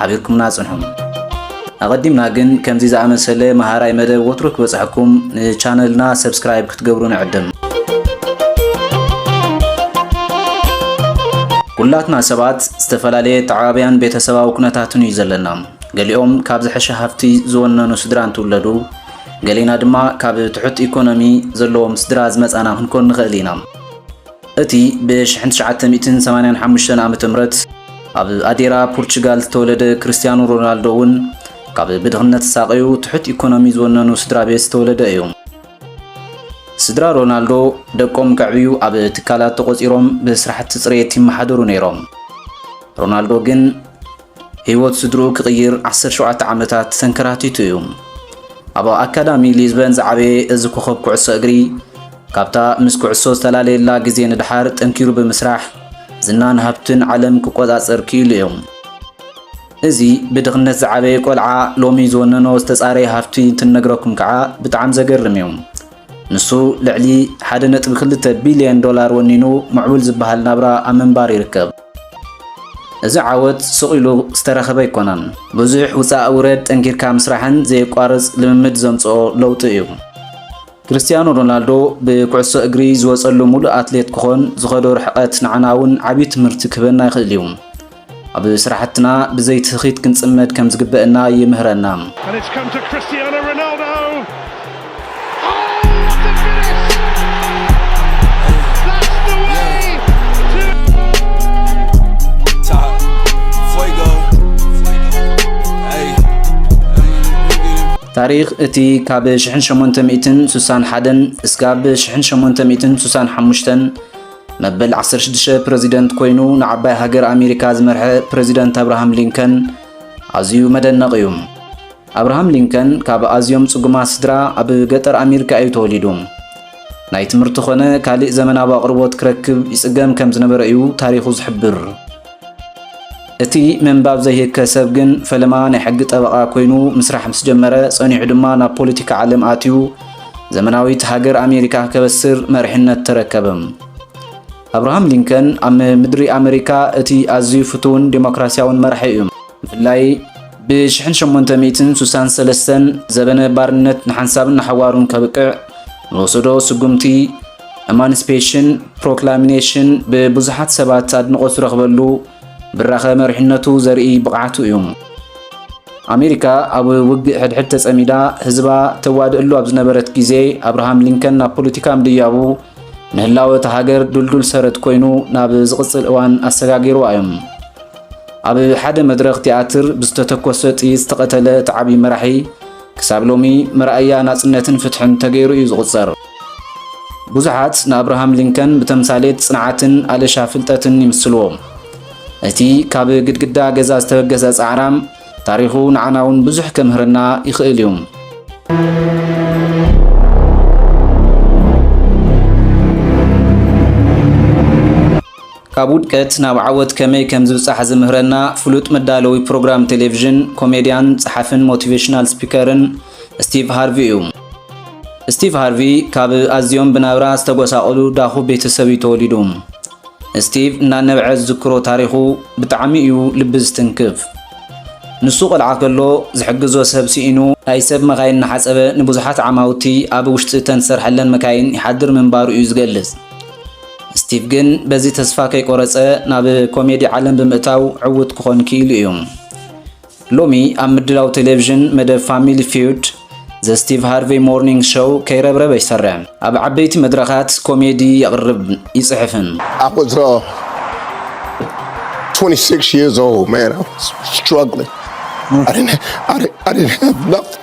ሓቢርኩምና ጽንሑ። ኣቐዲምና ግን ከምዚ ዝኣመሰለ መሃራይ መደብ ወትሩ ክበጽሐኩም ንቻነልና ሰብስክራይብ ክትገብሩ ንዕድም። ኩላትና ሰባት ዝተፈላለየ ተዓባብያን ቤተሰባዊ ኩነታትን እዩ ዘለና። ገሊኦም ካብ ዝሐሸ ሃፍቲ ዝወነኑ ስድራ እንትውለዱ፣ ገሊና ድማ ካብ ትሑት ኢኮኖሚ ዘለዎም ስድራ ዝመጻና ክንኮን ንኽእል ኢና። እቲ ብ ሽሕን ትሽዓተ ሚእትን ሰማንያን ሓሙሽተን ዓመተ ምህረት ኣብ ኣዴራ ፑርቹጋል ዝተወለደ ክርስትያኖ ሮናልዶ እውን ካብ ብድኽነት ዝሳቐዩ ትሑት ኢኮኖሚ ዝወነኑ ስድራ ቤት ዝተወለደ እዩ። ስድራ ሮናልዶ ደቆም ከዕብዩ ኣብ ትካላት ተቖፂሮም ብስራሕቲ ፅሬት ይመሓደሩ ነይሮም። ሮናልዶ ግን ህይወት ስድርኡ ክቕይር ዓሰርተ ሸውዓተ ዓመታት ተንከራቲቱ እዩ። ኣብ ኣካዳሚ ሊዝበን ዝዓበየ እዚ ኮኸብ ኩዕሶ እግሪ ካብታ ምስ ኩዕሶ ዝተላለየላ ግዜ ንደሓር ጠንኪሩ ብምስራሕ ዝናን ሃብትን ዓለም ክቆጻጸር ክኢሉ እዩ። እዚ ብድኽነት ዝዓበየ ቆልዓ ሎሚ ዝወነኖ ዝተጻረየ ሃፍቲ እንትነግረኩም ከዓ ብጣዕሚ ዘገርም እዩ። ንሱ ልዕሊ ሓደ ነጥቢ ክልተ ቢልየን ዶላር ወኒኑ ምዕቡል ዝበሃል ናብራ ኣብ ምንባር ይርከብ። እዚ ዓወት ሱቕ ኢሉ ዝተረኸበ ኣይኮነን። ብዙሕ ውፃእ ውረድ፣ ጠንኪርካ ምስራሕን ዘየቋርፅ ልምምድ ዘምፅኦ ለውጢ እዩ። ክርስትያኖ ሮናልዶ ብኩዕሶ እግሪ ዝወፀሉ ሙሉእ ኣትሌት ክኾን ዝኸዶ ርሕቐት ንዓና እውን ዓብዪ ትምህርቲ ክህበና ይኽእል እዩ። ኣብ ስራሕትና ብዘይ ትህኺት ክንፅመድ ከም ዝግበእና ይምህረና። ታሪኽ እቲ ካብ 1861 እስካብ 1865 መበል 16 ፕረዚደንት ኮይኑ ንዓባይ ሃገር ኣሜሪካ ዝመርሐ ፕረዚደንት ኣብርሃም ሊንከን ኣዝዩ መደነቕ እዩ። ኣብርሃም ሊንከን ካብ ኣዝዮም ጽጉማት ስድራ ኣብ ገጠር ኣሜሪካ እዩ ተወሊዱ። ናይ ትምህርቲ ኮነ ካልእ ዘመናዊ ኣቕርቦት ክረክብ ይጽገም ከም ዝነበረ እዩ ታሪኹ ዝሕብር። እቲ ምንባብ ዘይህከ ሰብ ግን ፈለማ ናይ ሕጊ ጠበቓ ኮይኑ ምስራሕ ምስ ጀመረ፣ ጸኒሑ ድማ ናብ ፖለቲካ ዓለም ኣትዩ ዘመናዊት ሃገር ኣሜሪካ ከበስር መሪሕነት ተረከበ። ኣብርሃም ሊንከን ኣብ ምድሪ ኣመሪካ እቲ ኣዝዩ ፍቱውን ዴሞክራስያውን መራሒ እዩ። ብፍላይ ብሽሕን ሸሞንተ ሚእትን ሱሳን ሰለስተን ዘበነ ባርነት ንሓንሳብን ንሓዋሩን ከብቅዕ ንወሰዶ ስጉምቲ ኤማንስፔሽን ፕሮክላሚኔሽን ብብዙሓት ሰባት ኣድንቖት ዝረኽበሉ ብራኸ መሪሕነቱ ዘርኢ ብቕዓቱ እዩ። ኣሜሪካ ኣብ ውግእ ሕድሕድ ተጸሚዳ ህዝባ ተዋድእሉ ኣብ ዝነበረት ግዜ ኣብርሃም ሊንከን ናብ ፖለቲካ ምድያቡ ንህላወ እታ ሃገር ዱልዱል ሰረት ኮይኑ ናብ ዝቕጽል እዋን ኣሰጋጊርዋ እዮም። ኣብ ሓደ መድረኽ ቲያትር ብዝተተኮሰ ጥይት ዝተቐተለ እቲ ዓብዪ መራሒ ክሳብ ሎሚ መርኣያ ናጽነትን ፍትሕን ተገይሩ እዩ ዝቑጸር። ብዙሓት ንኣብርሃም ሊንከን ብተምሳሌት ጽንዓትን ኣለሻ ፍልጠትን ይምስልዎ። እቲ ካብ ግድግዳ ገዛ ዝተበገሰ ጻዕራም ታሪኹ ንዓና እውን ብዙሕ ከምህረና ይኽእል እዩ። ካብ ውድቀት ናብ ዓወት ከመይ ከም ዝብጻሕ ዝምህረና ፍሉጥ መዳለዊ ፕሮግራም ቴሌቪዥን፣ ኮሜድያን፣ ጸሓፍን ሞቲቬሽናል ስፒከርን ስቲቭ ሃርቪ እዩ። ስቲቭ ሃርቪ ካብ ኣዝዮም ብናብራ ዝተጎሳቆሉ ዳኹ ቤተሰብ እዩ ተወሊዱ። ስቲቭ እናነበዐ ዝዝክሮ ታሪኹ ብጣዕሚ እዩ ልቢ ዝትንክፍ። ንሱ ቆልዓ ከሎ ዝሕግዞ ሰብ ስኢኑ ናይ ሰብ መካይን እናሓጸበ ንብዙሓት ዓማውቲ ኣብ ውሽጢ እተን ዝሰርሐለን መካይን ይሓድር ምንባሩ እዩ ዝገልጽ። ስቲቭ ግን በዚ ተስፋ ከይቆረጸ ናብ ኮሜዲ ዓለም ብምእታው ዕውት ክኾን ክኢሉ እዩ። ሎሚ ኣብ ምድላው ቴሌቪዥን መደብ ፋሚሊ ፊውድ ዘ ስቲቭ ሃርቬይ ሞርኒንግ ሾው ከይረብረበ ይሰርሕ። ኣብ ዓበይቲ መድረኻት ኮሜዲ የቕርብ ይጽሕፍን። I was uh, 26 years old, man. I was struggling. I didn't, I didn't, I didn't have nothing.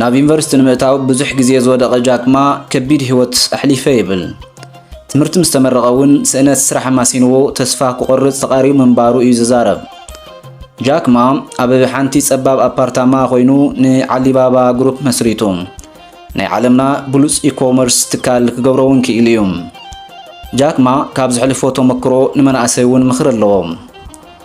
ናብ ዩኒቨርሲቲ ንምእታው ብዙሕ ግዜ ዝወደቐ ጃክማ ከቢድ ህይወት ኣሕሊፈ ይብል። ትምህርቲ ምስ ተመረቐ እውን ስእነት ስራሕ ኣማሲንዎ ተስፋ ክቖርጽ ተቓሪቡ ምንባሩ እዩ ዝዛረብ። ጃክማ ኣብ ሓንቲ ጸባብ ኣፓርታማ ኮይኑ ንዓሊባባ ግሩፕ መስሪቱ ናይ ዓለምና ብሉጽ ኢኮመርስ ትካል ክገብሮ እውን ክኢሉ እዩ። ጃክማ ካብ ዘሕልፎ ተመክሮ ንመናእሰይ እውን ምኽሪ ኣለዎ።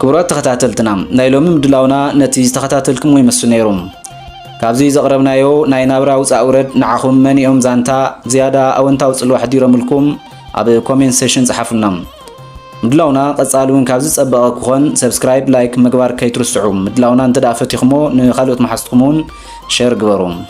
ክቡራት ተኸታተልትና ናይ ሎሚ ምድላውና ነቲ ዝተኸታተልክሞ ይመስል ነይሩ። ካብዚ ዘቕረብናዮ ናይ ናብራ ውፃእ ውረድ ንዓኹም መን እዮም ዛንታ ዝያዳ ኣወንታዊ ጽልዋ ሕዲሮምልኩም ኣብ ኮሜንት ሴሽን ጸሓፉልና። ምድላውና ቀጻሊ እውን ካብዚ ጸበቐ ክኾን ሰብስክራይብ ላይክ ምግባር ከይትርስዑ ምድላውና እንተ ፈቲኹሞ ንኻልኦት መሓዝትኩም እውን ሸር ግበሩ